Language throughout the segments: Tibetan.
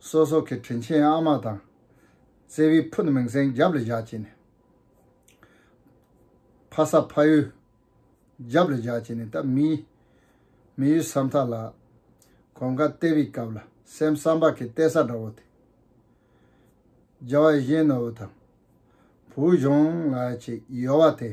སོ་སོ་གི་དྲིན་ཆེན་ཨ་མ་དང། བརྩེ་བའི་ཕུ་ནུ་མིང་སྲིང་རྒྱབ་ལ་བཞག་ཅིག་ནི། ཕ་ས་ཕ་ཡུལ་རྒྱབ་ལ་བཞག་ཅིག་ནི་ད་མི། མི་ཡུལ་ས་མཐའ་ལ། གོམ་ཁ་བལྟས་པའི་སྐབས་ལ་སེམས་བསམ་པ་གིས་བལྟས་ས་འདྲ་བོ་དེ། རྒྱལ་བ་གཞན་ནོར་བུ་དང། བུ་གཞོན་ལགས་ཀྱི་ཡོལ་བ་དེ།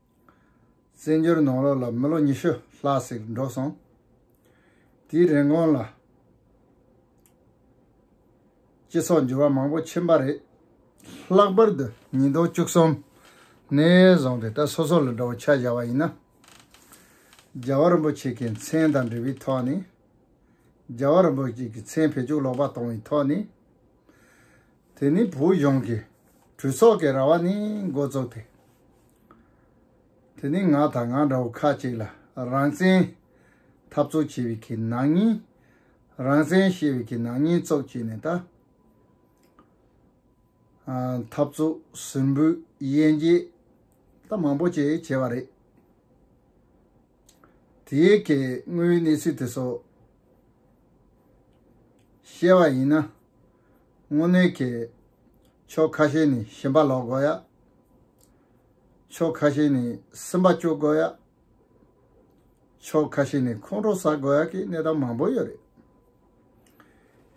བཙན་བྱོལ་ནང་ལོག་ལ་མི་ལོ་ཉི་ཤུ་ལྷག་ཟིག་འགྲོ་སོང། དེའི་རིན་གོང་ལ། སྤྱི་ཚོགས་འགྱུར་བ་མང་པོ་ཕྱིན་པ་རེད། ལྷག་པར་དུ་ཉིས་སྟོང་བཅུ་གསུམ་ནས་བཟུང་སྟེ་ད་སོ་སོ་ལ་འདྲ་བོ་ཆ་བཞག་པ་ཡིན་ན། རྒྱལ་བ་རིན་པོ་ཆེ་གི་མཚན་དང་འབྲེལ་བའི་ཐོག་ནས། རྒྱལ་བ་རིན་པོ་ཆེ་གི་མཚན་བེད་སྤྱོད་ལོག་པ་གཏོང་བའི་ཐོག་ནས། དེ་ནི་བོད་གཞུང་གི་གྲོས་ཚོགས་ཀྱི་ར་བ་ནི་འགོ་བཙུགས་ཏེ། དེ་ནི་ང་དང་ང་འདྲ་བོ་ཁག་ཅིག་ལ་རང་བཙན་འཐབ་རྩོད་བྱེད་པའི་གྱི་ནག་ཉེས། རང་བཙན་བཤད་པའི་གྱི་ནག་ཉེས་བཙོག་བྱས་ནས་ད། འཐབ་རྩོད་ཟིམ་བུའི་དབྱེ་འབྱེད་ད་མང་པོ་ཅིག་བྱས་པ་རེད། དེའི་གྱི་དངོས་ཡོད་གནས་ཚུལ་དེ་ཚོ་བཤད་པ་ཡིན་ན། དངོས་གནས་ཁྱེད། ཕྱོགས་ཁ་ཤས་ནས་ཞེན་པ་ལོག་དགོས་ཡ། ཕྱོགས་ཁ་ཤས་ནས་སེམས་པ་སྐྱོ་དགོས་ཡ། ཕྱོགས་ཁ་ཤས་ནས་ཁོང་ཁྲོ་ཟ་དགོས་ཡ་གི་གནས་སྟངས་མང་པོ་ཡོད་རེད།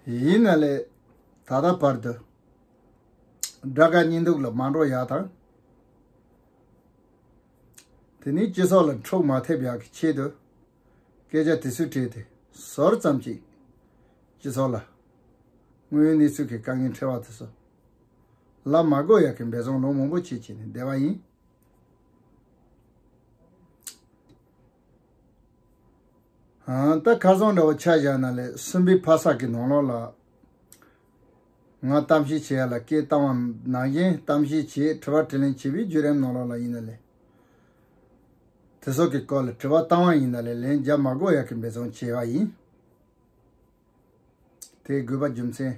ཡིན་ན་ལས་ད་ལྟ་བར་དུ། དགྲ་དགའ་གཉེན་སྡུག་ལ་མ་འགྲོ་ཡ་དང། དེ་ནས་སྤྱི་ཚོགས་ལ་འཁྲུག་མ་ཐེབས་ཡ་གི་ཆེད་དུ། སྐད་ཆ་དེ་ཚོའི་གྲས་དེ་ཟོར་ཙམ་གྱིས་སྤྱི་ཚོགས་ལ་དངོས་ཡོད་གནས་ཚུལ་གྱི་དཀའ་ངལ་འཕྲད་བ་དེ་ཚོ་ལ་མ་བསྒོ་ཡག་གི་འབད་བརྩོན་ལོ་མང་པོ་བྱས་བྱས་ནས་བསྡད་པ་ཡིན། ད་ཁ་སང་འདྲ་བོ་ཆ་བཞག་ན་ལས་གསུམ་པའི་ཕ་ས་གི་ནང་ལོགས་ལ་ང་གཏམ་བཤད་བྱེད་ཡ་ལ་སྐད་བཏང་བ་ནང་བཞིན་གཏམ་བཤད་བྱེད་དྲི་བ་དྲི་ལན་བྱེད་པའི་བརྒྱུད་རིམ་ནང་ལོགས་ལ་ཡིན་ན་ལས། དེ་སོགས་ཀྱི་སྐོར་ལ་དྲི་བ་བཏང་བ་ཡིན་ན་ལས་ལན་རྒྱབ་མ་དགོས་ཡག་གི་འབད་བརྩོན་བྱས་པ་ཡིན། དེའི་དགོས་པ་རྒྱུ་མཚན།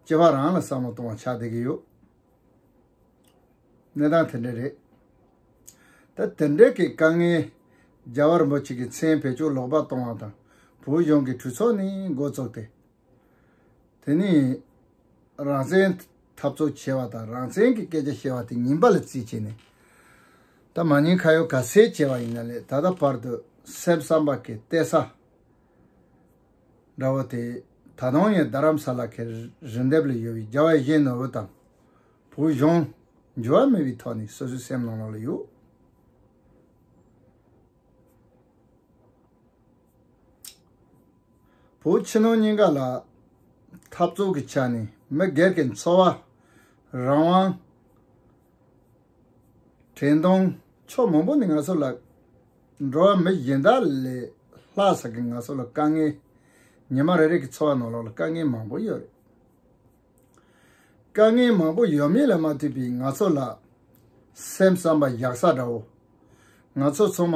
སྤྱི་བ་རང་ལ་བསམ་བློ་གཏོང་བ་ཆགས་བསྡད་ཀྱི་ཡོད། གནས་སྟངས་དེ་འདྲ་རེད། ད་དེ་འདྲ་གི་དཀའ་ངལ་རྒྱ་བར་འབོ་ཆེ་གི་མཚན་བེད་སྤྱོད་ལོག་པ་གཏོང་བ་དང་བོད་གཞུང་གི་གྲོས་ཚོགས་ནི་འགོ་བཙུགས་ཏེ། དེ་ནི་རང་བཙན་འཐབ་རྩོད་བྱེད་པ་དང་རང་བཙན་གྱི་སྐད་ཆ་བཤད་པ་དེ་ཉིན་པ་ལ་རྩིས་བྱས་ནས་ད་མ་ཉིན་ཁ་ཡོད་ག་ཚད་བྱས་པ་ཡིན་ན་ལས་ད་ལྟ་བར་དུ་སེམས་བསམ་པ་གི་གཏད་ས་འདྲ་བོ་དེ་ད་དུང་ཡང་རྡ་རམ་ས་ལ་གི་རི་འདེབས་ལ་ཡོད་པའི་རྒྱ་བལ་གཞན་ནོར་བུ་དང་བོད་གཞུང་འགྱུར་བ་མེད་པའི་ཐོག་ནས་སོ་སོའི་སེམས་ནང་ལོག་ལ་ཡོད། བོད་ཕྱི་ནང་གཉིས་ཀ་ལ་འཐབ་རྩོད་ཀྱི་ཆ་ནས་མི་སྒེར་གྱི་འཚོ་བ་རང་དབང། དྲན་གདུང་ཕྱོགས་མང་པོ་ནས་ང་ཚོ་ལ་འགྲོ་བ་མི་གཞན་དག་ལས་ལྷག་ས་ཀྱི་ང་ཚོ་ལ་དཀའ་ངལ། ཉི་མ་རེ་རེ་ཀྱི་འཚོ་བ་ནང་ལོགས་ལ་དཀའ་ངལ་མང་པོ་ཡོད་རེད། དཀའ་ངལ་མང་པོ་ཡོད་མེད་ལ་མ་ལྟོས་པའི་ང་ཚོ་ལ་སེམས་བསམ་པ་བཞག་ས་འདྲ་བོ། ང་ཚོ་ཚང་མ་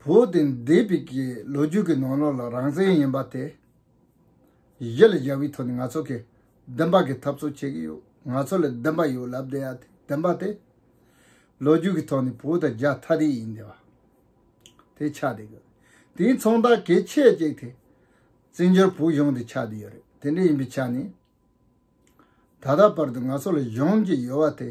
བོ་དེ་འདས་པའི་གི་ལོ་རྒྱུས་ཀྱི་ནང་ལོགས་ལ་རང་བཙན་ཡིན་པ་དེ་གཞི་ལ་བཞག་པའི་ཐོག་ནས་ང་ཚོ་གིས་བདེན་པ་གི་འཐབ་རྩོད་བྱེད་ཀྱི་ཡོད་ང་ཚོ་ལ་བདེན་པ་ཡོད་ལབ་བསྡད་ཡ་དེ་བདེན་པ་དེ་ལོ་རྒྱུས་ཀྱི་ཐོག་ནས་བོ་དང་རྒྱ་ཐ་རི་ཡིན་བསྡད་པ་དེ་ཆགས་བསྡད་ཡོད་དེའི་མཚོན་རྟགས་གལ་ཆེ་གཅིག་དེ་བཙན་བྱོལ་བོད་གཞུང་དེ་ཆགས་བསྡད་ཡོད་རེད་དེ་འདྲ་ཡིན་པའི་ཆ་ནས་ད་ལྟ་བར་དུ་ང་ཚོ་ལ་གཞུང་གི་ཡོད་བ་དེ་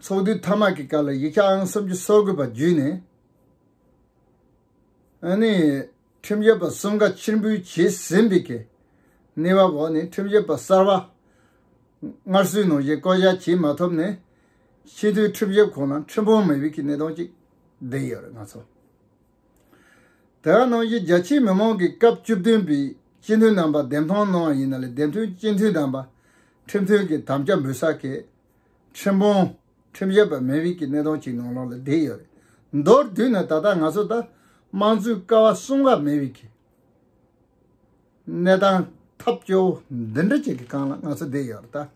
ཚོགས་འདུའི་ཐ་མག་གི་སྐབས་ལ་ཡིག་ཆ་ཨང་གསུམ་གྱི་སོག་དགོས་པ་བརྒྱུད་ནས། ཁྲིམས་བཤེར་པ་གསུམ་ཀ་ཕྱིར་འབུལ་བྱས་ཟིན་པའི་གནས་བབ་འོག་ནས་ཁྲིམས་བཤེར་པ་གསར་བ་སྔར་སྲོལ་ནང་བཞིན་བསྐོ་གཞག་བྱེད་མ་ཐུབ་ནས། ཕྱི་སྡོད་ཁྲིམས་བཤེར་ཁང་ལ་ཁྲིམས་དཔོན་མེད་པའི་གནས་སྟངས་གཅིག་བསྡད་ཡོད་རེད་ང་ཚོ། དེ་ག་ནང་བཞིན་རྒྱ་ཆེའི་མི་མང་གིས་སྐབས་བཅུ་བདུན་པའི་སྤྱི་འཐུས་རྣམ་པ་འདེམས་ཐོན་གནང་བ་ཡིན་ན་ལས་འདེམས་ཐོན་སྤྱི་འཐུས་དམ་པ་ཁྲིམས་མཐུན་གྱི་དམ་བཅའ་འབུལ་ས་གལ་ཁྲིམས་དཔོན། ཁྲིམས་བཤེར་པ་མི་རིགས་ཀྱི་གནས་སྟངས་ཅིག་ནང་ལོགས་ལ་བསྡད་ཡོད་རེད། མདོར་བསྡུས་ན་ད་ལྟ་ང་ཚོ་དང་དམངས་གཙོའི་ཀ་བ་གསུམ་ཀ་མི་རིགས་ཀྱི་གནས་སྟངས་ཐབས་སྐྱོ་བོ་འདི་འདྲ་ཅིག་གི་སྒང་ལ་ང་ཚོ་བསྡད་ཡོད་རེད།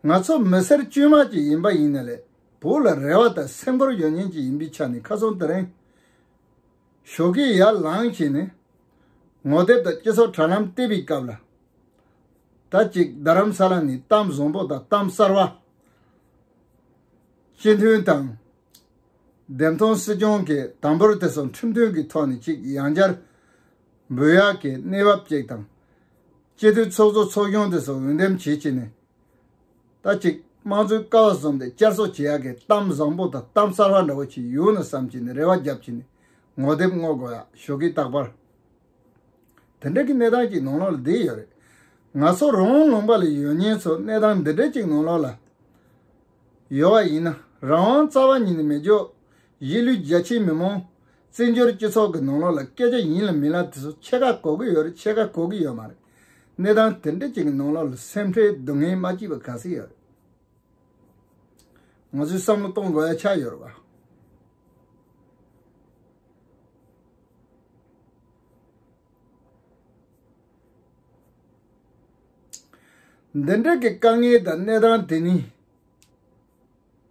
ང་ཚོ་མི་སེར་དཀྱུས་མ་ཅིག་ཡིན་པ་ཡིན་ན་ལས་བུ་ལ་རེ་བ་དང་སེམས་ཁུར་ཡོད་ཉེན་ཅིག་ཡིན་པའི་ཆ་ནས་ཁ་ཚོན་དེ་རིང་ཞོགས་ཀྱི་ཡར་ལངས་ཤིག་ནས་ངོ་དེབ་དང་སྤྱི་ཚོགས་དྲ་ལམ་བལྟས་པའི་སྐབས་ལ། ད་ཅིག་རྡ་རམ་ས་ལ་ནི་གཏམ་བཟང་པོ་དང་གཏམ་གསར་བ། སྤྱི་མཐུན་དང། བདེན་མཐོང་སྲིད་སྐྱོང་གི་དམ་པོར་དེ་སོགས་ཁྲིམས་མཐུན་གྱི་ཐོག་ནས་ཅིག་ཡང་བཅར་འབུལ་ཡག་གི་གནས་བབ་ཅིག་དང། སྤྱི་འཐུས་ཚོགས་གཙོ་ཚོགས་ཆུང་དེ་སོགས་འོས་འདེམས་བྱེད་ཕྱིན་ནས། ད་ཅིག་དམངས་གཙོའི་ཀ་བ་བཟུང་སྟེ་བཅར་གསོ་བྱེད་ཡག་གི་གཏམ་བཟང་པོ་དང་གཏམ་གསར་བ་འདྲ་བོ་ཅིག་ཡོང་ན་བསམ་ཕྱིན་ནས་རེ་བ་རྒྱབ་ཕྱིན་ནས་ངོ་དེབ་བསྔོག་དགོས་ཡག་ཞོགས་གི་རྟག་པར། དེ་འདྲ་གི་གནས་སྟངས་ཅིག་ནང་ལོག་ལ་བསྡད་ཡོད་རེད། ང་ཚོ་རང་དབང་ལུང་པ་ལ་ཡོད་ཉེན་ཚོ་གནས་སྟངས་འདི་འདྲ་ཅིག་ནང་ལོག་ལ་ཡོད་བ་ཡིན་ན་རང་དབང་རྩ་བ་ཉིད་ནས་མི་འཇོག་གཞིས་ལུས་རྒྱ་ཆེའི་མི་མང། བཙན་བྱོལ་སྤྱི་ཚོགས་ཀྱི་ནང་ལོག་ལ་སྐད་ཆ་ཡིན་ལ་མིན་ལ་དེ་ཚོ་ཕྱེད་ཀ་གོ་གི་ཡོད་རེད་ཕྱེད་ཀ་གོ་གི་ཡོད་མ་རེད། གནས་སྟངས་དེ་འདྲ་ཅིག་གི་ནང་ལོག་ལ་སེམས་ཁྲལ་སྡུག་བསྔལ་མ་སྐྱིད་པ་ག་ཚོད་ཡོད་རེད། ང་ཚོས་བསམ་བློ་གཏོང་དགོས་ཡ་ཆགས་ཡོད་རེད་བ། འདི་འདྲ་གི་དཀའ་ངལ་དང་གནས་སྟངས་དེ་ནི།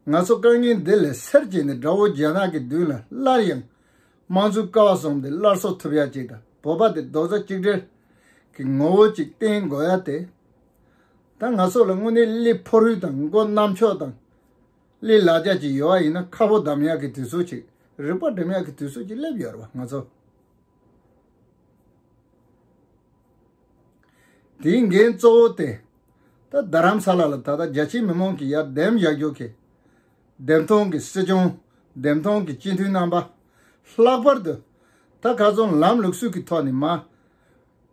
ང་ཚོ་དཀའ་ངལ་འདི་ལས་སེར་བྱེས་ནས་དགྲ་བོ་རྒྱ་ནག་གི་མདུན་ལ་སླར་ཡང་དམངས་གཙོའི་ཀ་བ་བཟུང་སྟེ་སླར་གསོ་ཐུབ་ཡ་གཅིག་དང་བོ་པ་དེ་རྡོག་རྩ་གཅིག་སྒྲིལ་གྱི་ངོ་བོ་ཅིག་བསྟེན་དགོས་ཡ་དེ། ད་ང་ཚོ་ལ་དངོས་གནས་གླི་ཕོ་རུས་དང་མགོ་གནམ་ཕྱོགས་དང། གླེན་ལག་རྒྱག་གི་ཡོད་ཡིན་ན་ཁ་བོ་དམ་ཡག་གི་དུས་ཚོད་ཅིག་རིག་པ་འགྲིམ་ཡག་གི་དུས་ཚོད་ཅིག་སླེབས་ཡོད་རེད་བ་ང་ཚོ་དེའི་འགན་གཙོ་བོ་དེ་ད་རྡ་རམ་ས་ལ་ལ་ད་ལྟ་རྒྱ་ཆེའི་མི་མང་གི་ཡར་ལྡེམ་བཞག་རྒྱུ་གི་ལྡེམ་ཐོང་གི་སྲིད་སྐྱོང་ལྡེམ་ཐོང་གི་སྤྱི་འཐུས་རྣམ་པ་ལྷག་པར་དུ་ད་ག་ཚོང་ལམ་ལུགས་སུས་ཀྱི་ཐོག་ནས་མ་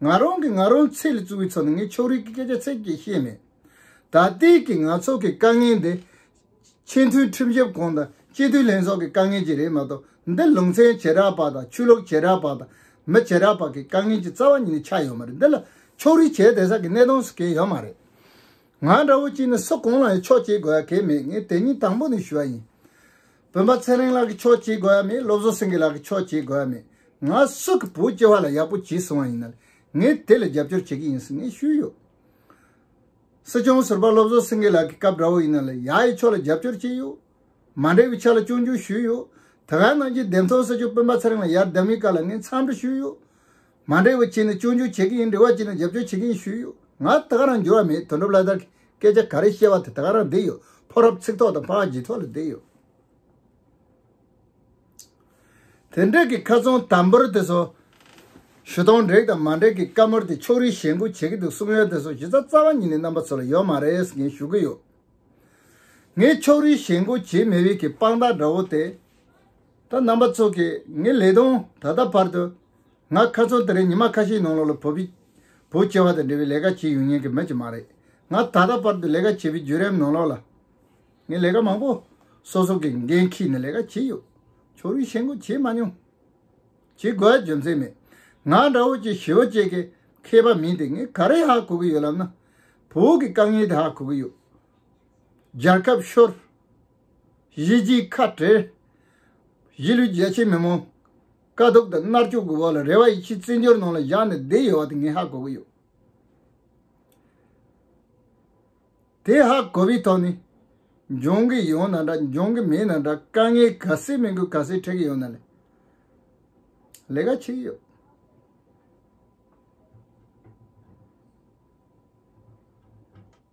ང་རང་གིས་ང་རང་ཚེ་ལས་བཙུགས་པའི་ཚོགས་ནི་ངས་ཕྱོགས་རིས་ཀྱི་སྐད་ཆ་ཚིག་གིས་བཤད་མེད། ད་ལྟའི་གི་ང་ཚོ་གི་དཀའ་ངལ་འདི། ཆེས་མཐོའི་ཁྲིམས་ཞིབ་ཁང་དང་སྤྱི་མཐུན་ལྷན་ཚོགས་ཀྱི་དཀའ་ངལ་གྱི་རེད་མ་གཏོགས་འདི་ལུང་ཚན་བྱེ་བྲག་པ་དང་ཆོས་ལུགས་བྱེ་བྲག་པ་དང་མི་བྱེ་བྲག་པ་གི་དཀའ་ངལ་གྱི་རྩ་བ་ཉིད་ནས་ཆགས་ཡོད་མ་རེད་འདི་ལ་ཕྱོགས་རིས་བྱས་དེ་ས་གི་གནས་སྟངས་སུ་གྱེས་ཡོད་མ་རེད། ང་འདྲ་བོ་གཅིག་ནི་སུ་གང་ལའང་ཕྱོགས་གྱེས་དགོས་ཡ་གས་མེད་ངས་དེ་ཉིད་དང་པོ་ནས་ཞུ་བ་ཡིན། བོན་པ་ཚེ་རིང་ལགས་ཀྱི་ཆོག་བྱེད་དགོས་ཡ་མེད་སློབ་བཟོ་སེང་གེ་ལགས་ཀྱི་ཆོག་བྱེད་དགོས་ཡ་མེད་ང་སུ་གི་བུ་སྐྱེ་བ་ལ་ཡག་པོ་བྱས་སོང་བ་ཡིན་ནལ་ངས་དེ་ལ་རྒྱབ་སྐྱོར་བྱེད་ཀྱི་ཡིན་ཟེར་ངས་ཞུས་ཡོད། སྲིད་སྐྱོང་ཟུར་པ་སློབ་བཟོ་སེང་གེ་ལགས་ཀྱི་སྐབས་འདྲ་བོ་ཡིན་ནལ་ཡ་ཡི་ཕྱོགས་ལ་རྒྱབ་སྐྱོར་བྱས་ཡོད། མ་འབྲེལ་བའི་ཆ་ལ་སྐྱོན་བརྗོད་ཞུས་ཡོད། དེ་ག་ནང་རྒྱུད་འདེམས་ཚོགས་སྲིད་སྐྱོང་སྤེན་པ་ཚེ་རིང་ལ་ཡར་ལྡབ་མའི་བཀའ་ལ་ངས་མཚམས་འདྲི་ཞུས་ཡོད། མ་འབྲེལ་བའི་ཆེད་ནས་སྐྱོན་བརྗོད་བྱེད་ཀྱི་ཡིན་འབྲེལ་བ་བྱེད་ནས་རྒྱབ་སྐྱོར་བྱེད་ཀྱི་ཡིན་ཞུས་ཡོད། ང་ད་ག་རང་འགྱུར་བ་མེད་དོན་གྲུབ་བླ་དར་གྱིས་སྐད་ཆ་ག་རེ་བཤད་པ་དེ་ད་ག་རང་བསྡད་ཡོད་ཕོ་རབ་ཚིག་ཐོག་དང་ཕ་རྗེས་ཐོག་ལ་བསྡད་ཡོད། དེ་འབྲེལ་གྱི་ཁ་ཚོན་དམ་པོར་དེ་སོ་ཞུ་སྟོང་འབྲེག་དང་མ་འབྲེག་གི་བཀའ་མོལ་དེ་ཕྱོགས་རིས་ཞེ་འགུག་བྱེད་ཀྱི་འདུག་གསུངས་ཡོད་དེ་སོ་གཞི་རྩ་རྩ་བ་ཉིད་ནས་རྣམ་པ་ཚོ་ལ་ཡོད་མ་རེད་ཟེར་གྱིན་ཞུ་གི་ཡོད། ངས་ཕྱོགས་རིས་ཞེ་འགུག་བྱེད་མི་འོས་ཀྱི་དཔང་རྟགས་འདྲ་བོ་དེ། ད་རྣམ་པ་ཚོ་གིས་ངའི་ལས་དོན་ད་ལྟ་བར་དུ། ང་ཁ་ཚོན་དེ་རིང་ཉི་མ་ཁ་ཤས་ནང་ལོགས་ལ་བོད་པའི་བོད་སྐྱེ་བ་དང་འབྲེལ་བའི་ལས་ཀ་བྱེད་ཡོང་ཉན་གི་མེད་ཀྱི་མ་རེད། ང་ད་ལྟ་བར་དུ་ལས་ཀ་བྱེད་པའི་བརྒྱུད་རིམ་ནང་ལོགས་ལ། ངས་ལས་ཀ་མང་པོ་སོ་སོ་གི་འགན་འཁྱེར་ནས་ལས་ཀ་བྱས་ཡོད། ཕྱོགས་རིས་ཞེན་ཁོག་བྱས་མ་མྱོང། བྱེད་དགོས་པའི་རྒྱུ་མཚན་མེད། ང་འདྲ་བོ་ཅིག་ཞི་བ་བཅས་ཀྱི་མཁས་པ་མིན་ཏེ་ངས་ག་རེ་ཧ་གོ་གི་ཡོད་ལབ་ན། བོད་ཀྱི་དཀའ་ངལ་དེ་ཧ་གོ་གི་ཡོད། རྒྱལ་ཁབ་ཤོར། གཞིས་བྱེས་ཁ་བྲལ། གཞིས་ལུས་རྒྱལ་ཆེན་མི་མང། དཀའ་སྡུག་དང་མནར་གཅོད་ཀྱི་འོག་ལ་རེ་བ་ཡིད་ཆེས་བརྩི་འཇོར་ནང་ལ་བཞག་ནས་བསྡད་ཡོད་བ་དེ་ངས་ཧ་གོ་གི་ཡོད། དེ་ཧ་གོ་བའི་ཐོག་ནས། འབྱུང་གི་ཡོད་ན་འདྲ་འབྱུང་གི་མེད་ན་འདྲ་དཀའ་ངལ་ག་ཚོད་མི་དགོས་ག་ཚོད་འཕྲད་ཀྱི་ཡོད་ན་ལས་ལས་ཀ་བྱེད་ཀྱི་ཡོད།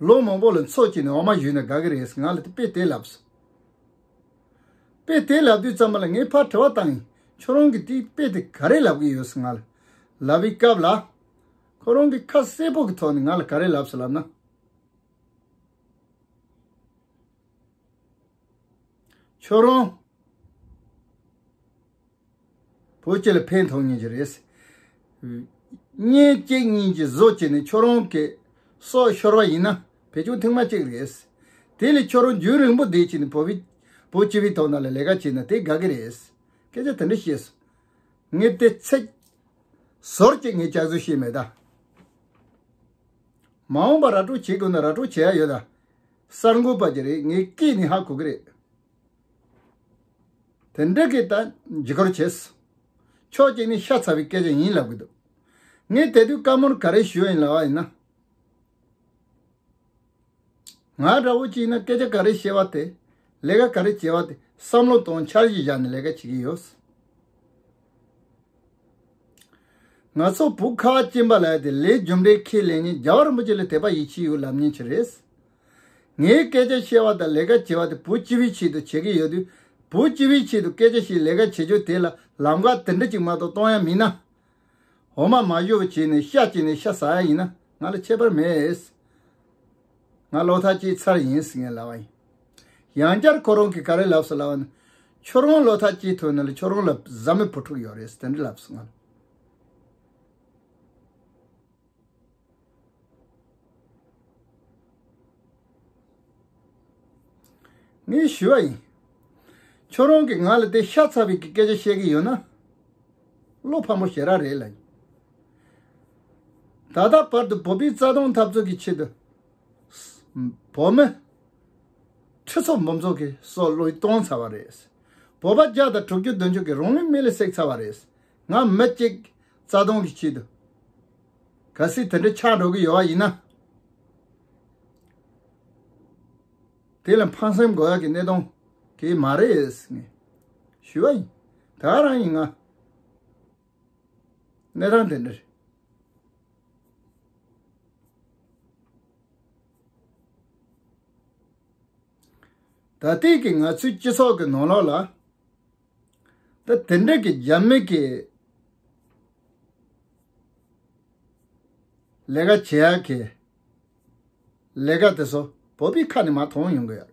ལོ་མང་པོ་ལ་འཚོ་བཅུག་ནས་འོ་མ་བཞོས་ནས་དགའ་གི་རེད་ང་ལ་དཔེ་དེ་ལབ། དཔེ་དེ་ལབ་དུས་ཙམ་མ་ལ་ངས་ཕར་དྲི་བ་བཏང་ཡིན་ཁྱོད་རང་གིས་དེའི་དཔེ་དེ་ག་རེ་ལབ་གི་ཡོད་ང་ལ་ལབ་པའི་སྐབས་ལ། ཁོ་རང་གིས་ཁ་གསལ་པོ་གི་ཐོག་ནས་ང་ལ་ག་རེ་ལབ་ཟེར་ལབ་ན། ཁྱོད་རང། བོད་སྤྱི་ལ་ཕན་ཐོགས་ངེས་ཅི་རེད། གཉེན་སྐྱེས་གཉིས་ཀྱི་བཟོ་བྱས་ནས་ཁྱོད་རང་གི་སྲོག་ཤོར་བ་ཡིན་ན་བེད་སྤྱོང་ཐེངས་མ་གཅིག་རེད། དེ་ལས་ཁྱོད་རང་རྒྱུན་རིང་པོ་བསྡད་ཅིག་ནས་བོད་སྤྱི་བའི་ཐོག་ནང་ལ་ལས་ཀ་བྱས་ན་དེ་དགའ་གི་རེད། སྐད་ཆ་དེ་འདྲ་བཤད་སོང། ངས་དེ་ཚེག་ཟོར་གྱིས་ངའི་ལྕགས་ཟུར་བཤད་མེད་ད། མ་འོངས་པར་ར་སྤྲོད་བྱེད་དགོས་ན་ར་སྤྲོད་བྱེད་ཡ་ཡོད་ད། གསར་འགོད་པ་གྱི་རེད་ངའི་སྐད་ནི་ཧ་གོ་གི་རེད། དེ་འདྲ་གི་ད་འཇིགས་སྐོར་བྱས་སོང། ཕྱོགས་གཅིག་ནས་ཤ་ཚ་བའི་སྐད་ཆ་ཡིན་ལབ་གི་འདུག་ངས་དེ་དུས་བཀའ་མོལ་ག་རེ་ཞུ་ཡིན་ལབ་ཡིན་ན། ང་འདྲ་བོ་གཅིག་ན་སྐད་ཆ་ག་རེ་བཤད་པ་དེ་ལས་ཀ་ག་རེ་བྱེད་པ་དེ་བསམ་བློ་གཏོང་འཆར་གཞི་བཞག་ནས་ལས་ཀ་བྱེད་ཀྱི་ཡོད། ང་ཚོ་བོུ་ཁ་གཅིག་འབའ་ལ་ཡོད་དེ་ལས་རྒྱུ་འབྲས་ཁས་ལེན་ཉིན་རྒྱལ་བ་རིན་པོ་ཆེ་ལས་དད་པ་ཡིད་ཆེས་ཡོད་ལབ་ཉིན་ཆི་རེད། ངས་སྐད་ཆ་བཤད་བ་དང་ལས་ཀ་བྱེད་པ་དེ་བོད་སྤྱི་བའི་ཆེད་དུ་བྱེད་ཀྱི་ཡོད་དུས་བོད་སྤྱི་བའི་ཆེད་དུ་སྐད་ཆ་ཞིག་ལས་ཀ་བྱེད་ཆོག་དེ་ལ་ལམ་ཁ་དེ་འདྲ་ཅིག་མ་གཏོགས་གཏོང་ཡ་མིན་ན། འོ་མ་མ་ཤོར་བ་བྱས་ནས་ཤ་བཅད་ནས་ཤ་ཟ་ཡ་ཡིན་ན་ང་ལ་ཁྱད་པར་མེད། ང་བློ་ཐག་བཅད་ཚར་ཡིན་ཟེར་ནས་ལབ་བ་ཡིན། ཡང་བསྐྱར་ཁོ་རང་གིས་ག་རེ་ལབས་སུ་ལབ་བ་ནི། ཁྱོད་རང་བློ་ཐག་བཅད་ཐུབ་ན་ལ་ཁྱོད་རང་ལ་བཟའ་མི་བུ་ཕྲུག་ཡོད་རེད་ཟེར་དེ་འདྲ་ལབས་སུ་ང་ལ། ངས་ཞུས་པ་ཡིན། ཁྱོད་རང་གིས་ང་ལ་དེ་ཤ་ཚ་བའི་སྐད་ཆ་བཤད་ཀྱི་ཡོད་ན། བློ་ཕམ་པོ་ཞེ་རག་རེད་ལ། ད་ལྟ་བར་དུ་བོད་པའི་རྩ་དོན་འཐབ་རྩོད་ཀྱི་ཆེད་དུ། བོད་མི། ཁྲི་ཚོ་འབུམ་ཚོ་གིས་སྲོག་བློས་གཏོང་ཚར་བ་རེད། བོད་པ་བརྒྱ་དང་དྲུག་ཅུ་བདུན་ཅུ་གིས་རང་ལུས་མེ་ལ་བསྲེགས་ཚར་བ་རེད། ང་མི་གཅིག་རྩ་སྟོང་གི་ཆེད་དུ་ག་སྲིད་དེ་འདྲ་ཆགས་འགྲོ་གི་ཡོད་ཡིན་ན། དེ་ལ་ཕངས་སེམས་དགོས་ཀྱི་གནས་སྟངས་དེ་མ་རེད་ཟེར་ནས་ཞུས་པ་ཡིན། ད་རང་ཡིན་ང་གནས་སྟངས་དེ་འདྲར། ད་ལྟའི་ང་ཚོའི་སྤྱི་ཚོགས་ཀྱི་ནང་ལོགས་ལ། ད་དེ་འདྲ་གི་རྒྱ་མི་གི་ལས་ཀ་བྱེད་ཡག་གི་ལས་ཀ་དེ་ཚོ་བོད་པའི་ཁ་ནས་མ་མཐོང་ཡོང་གི་ཡོད།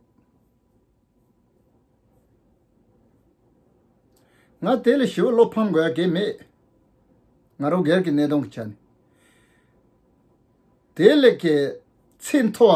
ང་དེ་ལ་ཞི་བ་བློ་ཕམ་དགོས་ཡ་གི་མེད། ང་རང་སྒེར་གི་གནས་སྟངས་ཀྱི་ཆ་ནས་དེ་ལས་ཀྱི་ཚད་མཐོ་བ་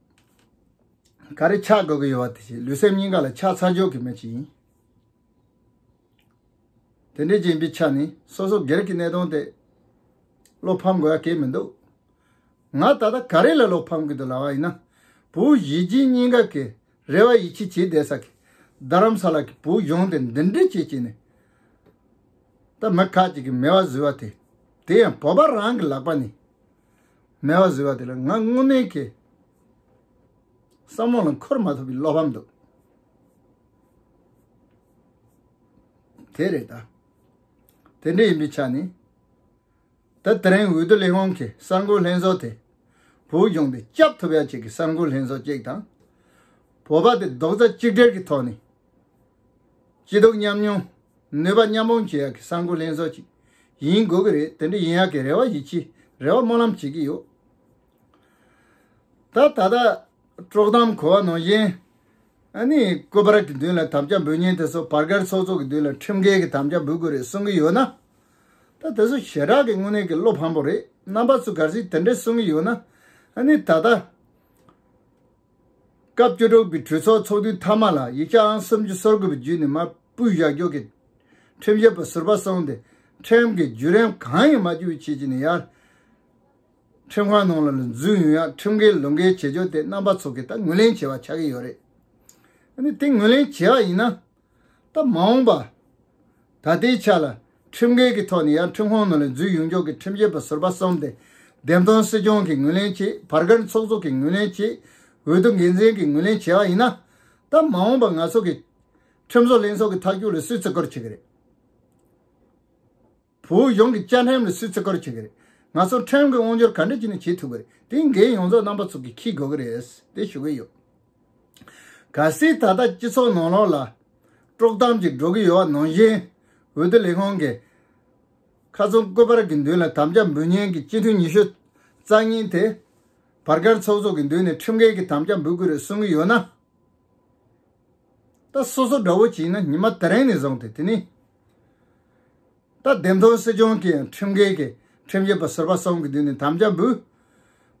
ག་རེ་ཆགས་དགོས་ཀྱི་ཡོད་བ་དེ་བྱས་ལུས་སེམས་གཉིས་ཀ་ལ་ཆགས་ཚ་འཇོག་གི་མེད་ཅིང། དེ་འདྲའི་སྦྱིན་པའི་ཆ་ནས་སོ་སོ་སྒེར་གྱི་གནས་དོན་དེ་བློ་ཕམ་དགོས་ཡ་གལ་མི་འདུག་ང་ད་ལྟ་ག་རེ་ལ་བློ་ཕམ་གྱི་འདུག་ལབ་བ་ཡིན་ན་བུ་བཞི་སྦྱིན་གཉིས་ཀ་གི་རེ་བ་ཡིད་ཆེས་བྱེད་བསྡད་ས་གི་རྡ་རམ་ས་ལ་གི་བུ་གཞོན་དེ་འདི་འདྲི་བྱེད་བྱས་ནས་ད་མི་ཁག་ཅིག་གི་མེ་བ་བཟོས་བ་དེ་དེ་ཡང་བོད་པ་རང་གི་ལག་པ་ནས་སྨྲ་བ་བཟོད་པ་དེ་ལ་ང་སྔོན་མའི་གེ་སར་མོ་ལ་འཁོར་མ་ཐུབ་པའི་བློ་ཕམ་འདུག་དེ་རེད་ད། དེ་འདྲ་ཡིན་པའི་ཆ་ནས་ད་ད་རིང་འོས་བསྡུ་ལས་དབང་གི་གསར་འགོད་ལྷན་ཚོགས་དེ་བོད་ལྗོངས་པའི་སྐྱབས་ཐོབ་ཡ་གཅིག་གི་གསར་འགོད་ལྷན་ཚོགས་གཅིག་དང། བོད་པ་དེ་རྡོག་རྩ་གཅིག་སྒྲིལ་གྱི་ཐོག་ནས། སྐྱིད་སྡུག་མཉམ་མྱོང། ནུས་པ་མཉམ་སྤུངས་བྱེད་ཡག་གི་ས་འགུལ་ལེན་བཟོ་ཅིག་ཡིན་དགོས་ཀྱི་རེད་དེ་འདྲ་ཡིན་ཡག་གི་རེ་བ་ཡིད་ཆེས་རེ་བ་སྨོན་ལམ་བྱེད་ཀྱི་ཡོད། ད་ད་ལྟ། དཀྲོག་གཏམ་གོ་བ་ནང་བཞིན། ཨ་ནི་སྐུ་པར་གྱི་མདུན་ལ་དམ་བཅའ་འབུལ་ཉིན་དེ་ཚོ་བར་བརྒལ་ཚོགས་གཙོ་གི་མདུན་ལ་ཁྲིམས་འགལ་གྱི་དམ་བཅའ་འབུལ་དགོས་རེད་གསུང་གི་ཡོད་ན། ད་དེ་ཚོ་ཞེ་དྲག་གི་དངོས་གནས་ཀྱི་བློ་ཕམ་པོ་རེད་རྣམ་པ་ཚོ་ག་ཟིག་དེ་འདྲ་གསུང་གི་ཡོད་ན། ཨ་ནི་ད་ད། སྐབས་བཅུ་དྲུག་པའི་གྲོས་ཚོགས་ཚོགས་དུས་མཐའ་མ་ལ་ཡིག་ཆ་ཨང་སུམ་ཅུ་སོ་དགུ་པའི་བརྒྱུད་ནས་མ་དཔུའི་བཞག་རྒྱུགས་ཀྱི་ཁྲིམས་བཞེས་པ་ཟུར་པ་སོང་སྟེ་ཁྲིམས་ཀྱི་བརྒྱུད་རིམ་གང་ཡང་མ་བསྐྱུར་བའི་ཆེད་ཅིག་ནས་ཡར་ཁྲིམས་ཁང་ནང་ལ་ལ་འཛུལ་ཡོང་ཡང་ཁྲིམས་འགལ་ལུགས་འགལ་བྱེད་ཕྱོགས་དེ་རྣམ་པ་ཚོ་གིས་ད་ངོས་ལེན་བྱེད་པ་ཆགས་ཀྱི་ཡོད་རེད། འདི་ངོས་ལེན་བྱེད་ཡག་ཡིན་ན་པ་མ་འོངས་པ། ད་ལྟའི་ཆ་ལ་ཁྲིམས་འགལ་གྱི་ཐོག་ནས་ཡར་ཁྲིམས་ཁོངས་ནང་ལས་འཛུལ་ཡོང་ཕྱོགས་ཀྱི་ཁྲིམས་ཆད་པ་ཟུར་པ་གསུམ་སྟེ། བདེན་དཔང་སྲིད་སྐྱོང་གིས་ངོས་ལེན་བྱེད་བར་སྒར་ཚོགས་གཙོ་གིས་ངོས་ལེན་བྱེད་འོས་བསྡུ་འགན་འཛིན་གྱིས་ངོས་ལེན་བྱེད་པ་ཡིན་ན། ད་མ་འོངས་པ་ང་ཚོ་གིས་ཁྲིམས་བཟོ་ལྷན་ཚོགས་ཀྱི་མཐའ་འཁྱོལ་ལ་སུས་བརྩི་བཀུར་བྱེད་ཀྱི་རེད། བོད་གཞུང་གི་བཅའ་ཁྲིམས་ལ་སུས་བརྩི་བཀུར་བྱེད་ཀྱི་རེད། ང་ཚོར་ཁྲིམས་ཀྱི་དབང་སྒྱུར་ག་འདྲ་བྱས་ནས་བྱེད་ཐུབ་ཀྱི་རེད་དེ་འགན་ཡོངས་རྫོགས་རྣམ་པ་ཚོ་གིས་འཁྱེར་དགོས་ཀྱི་རེད་དེ་ཞུ་གི་ཡོད། གལ་སྲིད་ད་ལྟ་སྤྱི་ཚོགས་ནང་ལོགས་ལ་དཀྲོག་གཏམ་གྱིས་སྒྲོག་གི་ཡོད་ནང་བཞིན་འོས་བསྡུ་ལས་ཁང་གིས་ཁ་ཚོན་བཀོད་པར་གྱི་མདུན་ལ་དམ་བཅའ་འབུལ་མཉན་གྱི་སྤྱི་འཐུས་ཉི་ཤུ་རྩ་གཉིས་དེ་བར་སྐར་ཚོགས་གསོག་གི་མདུན་ནས་ཁྲིམས་འགལ་གྱི་དམ་བཅའ་འབུལ་དགོས་རེད་གསུང་གི་ཡོད་ན། ད་སོ་སོ་དགྲ་བོ་བྱས་ན་ཉི་མ་དེ་རིང་ནས་བཟུང་སྟེ་དེ་ནི། ད་བདེན་དོན་སྲིད་སྐྱོང་གིས་ཁྲིམས་འགལ་གྱི་ཁྲིམས་བཤད་པ་ཟུར་པ་གསུམ་གྱི་མདུན་ནས་དམ་བཅའ་འབུལ།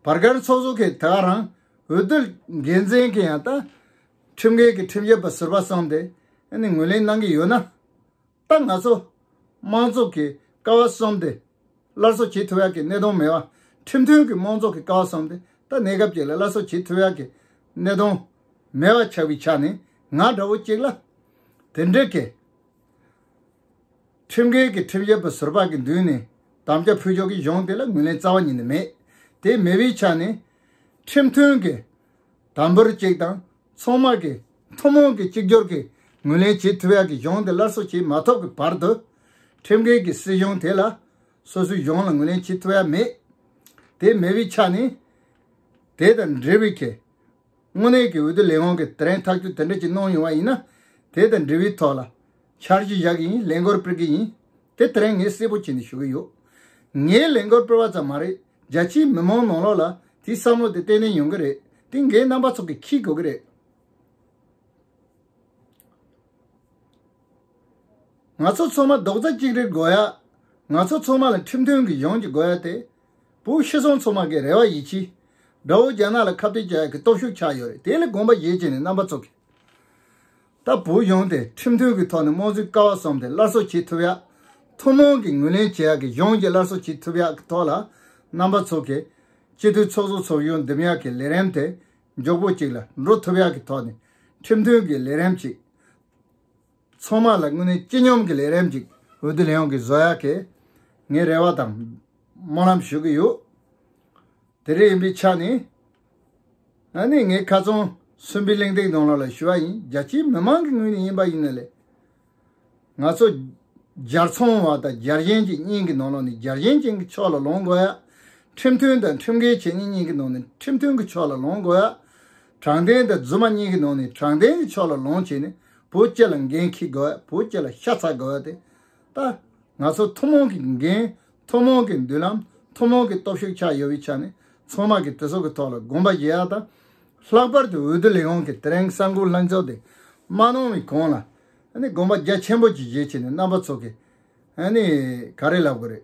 བར་སྐལ་ཚོགས་གཙོ་གིས་དེ་ག་རང་འོས་བསྡུ་འགན་འཛིན་གྱིས་ཡང་ད་ཁྲིམས་འགལ་གྱི་ཁྲིམས་བཤད་པ་ཟུར་པ་གསུམ་དེ་ནི་ངོས་ལེན་གནང་གི་ཡོད་ན། ད་ང་ཚོ་མང་ཚོགས་ཀྱི་ཀ་བ་གསུམ་དེ་སླར་གསོ་བྱེད་ཐུབ་ཡག་གི་གནད་དོན་མེད་བ། ཁྲིམས་མཐུན་གྱི་མང་ཚོགས་ཀྱི་ཀ་བ་གསུམ་དེ་ད་གནས་སྐབས་ཅིག་ལ་སླར་གསོ་བྱེད་ཐུབ་ཡག་གི་གནད་དོན་མེད་བ་ཆགས་པའི་ཆ་ནས་ང་འདྲ་བོ་གཅིག་ལ་དེ་འདྲའི་གལ། ཁྲིམས་འགལ་གྱི་ཁྲིམས་ཞབས་པ་ཟུར་བག་གི་མདུན་ནས་དམ་བཅའ་ཕུལ་ཆོག་གི་གཞུང་དེ་ལ་ངོས་ལེན་རྩ་བ་ཉིད་ནས་མེད། དེ་མེད་པའི་ཆ་ནས། ཁྲིམས་མཐུན་གྱི་དམ་འབུལ་གཅིག་དང་ཚོང་དམག་གིས་ཐུན་མོང་གི་གཅིག་གྱུར་གྱིས་ངོས་ལེན་བྱེད་ཐུབ་ཡག་གི་གཞུང་དེ་སླར་གསོ་བྱེད་མ་ཐུབ་ཀྱི་བར་དུ། ཁྲིམས་འགལ་གྱི་སྲིད་གཞུང་དེ་ལ། སོ་སོའི་གཞུང་ལ་ངོས་ལེན་བྱེད་ཐུབ་ཡག་མེད། དེ་མེད་པའི་ཆ་ནས། དེ་དང་འབྲེལ་བའི་ཁེ། དངོས་གནས་ཀྱི་འོས་བསྡུ་ལས་དབང་གི་དེ་རིང་ཐག་གཅོད་དེ་འདྲ་ཅིག་གནང་ཡོང་བ་ཡིན་ན་དེ་དང་འབྲེལ་བའི་ཐོག་ལ་འཆར་གཞི་བཞག་གི་ཡིན་ལས་འགོར་སྤེལ་གི་ཡིན་དེ་དེ་རིང་ངས་གསལ་པོ་བྱས་ནས་ཞུ་གི་ཡོད། ངས་ལས་འགོར་སྤེལ་བ་ཙམ་མ་རེད་རྒྱ་ཆེའི་མི་མང་ནང་ལོགས་ལ་དེའི་བསམ་བློ་དེ་གཏན་ནས་ཡོང་གི་རེད་དེ་འགའི་རྣམ་པ་ཚོགས་ཀྱིས་འཁྱེར་དགོས་ཀྱི་རེད། ང་ཚོ་ཚང་མ་རྡོག་རྩ་གཅིག་རེད་དགོས་ཡ། ང་ཚོ་ཚང་མ་ལ་ཁྲིམས་མཐུན་གྱི་གཞུང་གཅིག་དགོས་ཡ་དེ། བོད་ཤི་སོང་ཚོ་མ་གི་རེ་བ་ཡིད་ཆེས། དགྲ་བོ་རྒྱ་ནག་ལ་ཁ་བཏད་བྱ་ཡག་གི་སྟོབས་ཤུགས་ཆགས་ཡོད་རེད་དེ་ལས་དགོངས་པ་བཞེས་བྱས་ནས་རྣམ་པ་ཚོ་གི། ད་བོད་གཞུང་དེ་ཁྲིམས་མཐུན་གི་ཐོག་ནས་དམངས་གཙོའི་ཀ་བ་བཟོམས་ཏེ་སླར་གསོ་བྱེད་ཐུབ་ཡག་ཐུན་མོང་གི་ངོས་ལེན་བྱེད་ཡག་གི་གཞུང་གི་སླར་གསོ་བྱེད་ཐུབ་ཡག་གི་ཐོག་ལ་རྣམ་པ་ཚོ་གི། སྤྱི་འཐུས་ཚོགས་གཙོ་ཚོགས་གཞུང་འདེམས་ཡག་གི་ལས་རིམ་དེ་མགྱོགས་པོ་ཅིག་ལ་འགྲོ་ཐུབ་ཡག་གི་ཐོག་ནས་ཁྲིམས་མཐུན་གི་ལས་རིམ་ཅིག། ཚང་མ་ལ་དངོས་གནས་སྤྱི་སྙོམས་ཀྱི་ལས་རེམ་ཅིག་འོས་བསྡུ་ལས་ཡོངས་ཀྱི་བཟོ་ཡག་གི་ངས་རེ་བ་དང་སྨོན་ལམ་ཞུ་གི་ཡོད། དེ་རེ་ཡིན་པའི་ཆ་ནས། ཨ་ནི་ངས་ཁ་ཚོན་གསུམ་པའི་གླེང་སྟེགས་ནང་ལོག་ལ་ཞུ་བ་ཡིན་རྒྱ་ཆེའི་མི་མང་གི་ངོས་ནས་ཡིན་པ་ཡིན་ན་ལས། ང་ཚོ ྋརྒྱལ་ཚོང་བ་དང ྋརྒྱལ་ཞེན་ཅན་གཉིས་ཀྱི་ནང་ལོག་ནས ྋརྒྱལ་ཞེན་ཅན་གྱི་ཕྱོགས་ལ་ལོངས་དགོས་ཡ། ཁྲིམས་མཐུན་དང་ཁྲིམས་འགལ་བྱེད་མཁན་གཉིས་ཀྱི་ནང་ནས་ཁྲིམས་མཐུན་གྱི་ཕྱོགས་ལ་ལོངས་དགོས་ཡ། དྲང་བདེན་དང་རྫུན་མ་གཉིས་ཀྱི་ནང་ནས་དྲང་བདེན་གྱི་ཕྱོགས་ལ་ལོངས་བྱས་ནས་བོད་སྤྱི་ལ་འགན་འཁྱེར་དགོས་བ་བོད་སྤྱི་ལ་ཤ་ཚ་དགོས་བ་དེ་ལྟ། ང་ཚོ་ཐུན་མོང་གི་འགན་ཐུན་མོང་གི་མདུན་ལམ་ཐུན་མོང་གི་སྟོབས་ཤུགས་ཆགས་ཡོད་བའི་ཆ་ནས་ཚང་མ་གི་དེ་ཚོ་གི་ཐོག་ལ་དགོངས་པ་བཞེས་བ་དང། ལྷག་པར་དུ་འོས་བསྡུ་ལས་ཁང་གི་ཏེ་རེང་ས་འགུག་ལྷན་ཚོགས་དེ་མ་གནང་བའི་གོང་ལ་ནི་དགོངས་པ་རྒྱ་ཆེན་པོ་ཅིག་བཞེས་ཆེ་ནས་རྣམ་པ་ཚོ་གི་ནི་ག་རེ་ལབ་དགོས་རེད།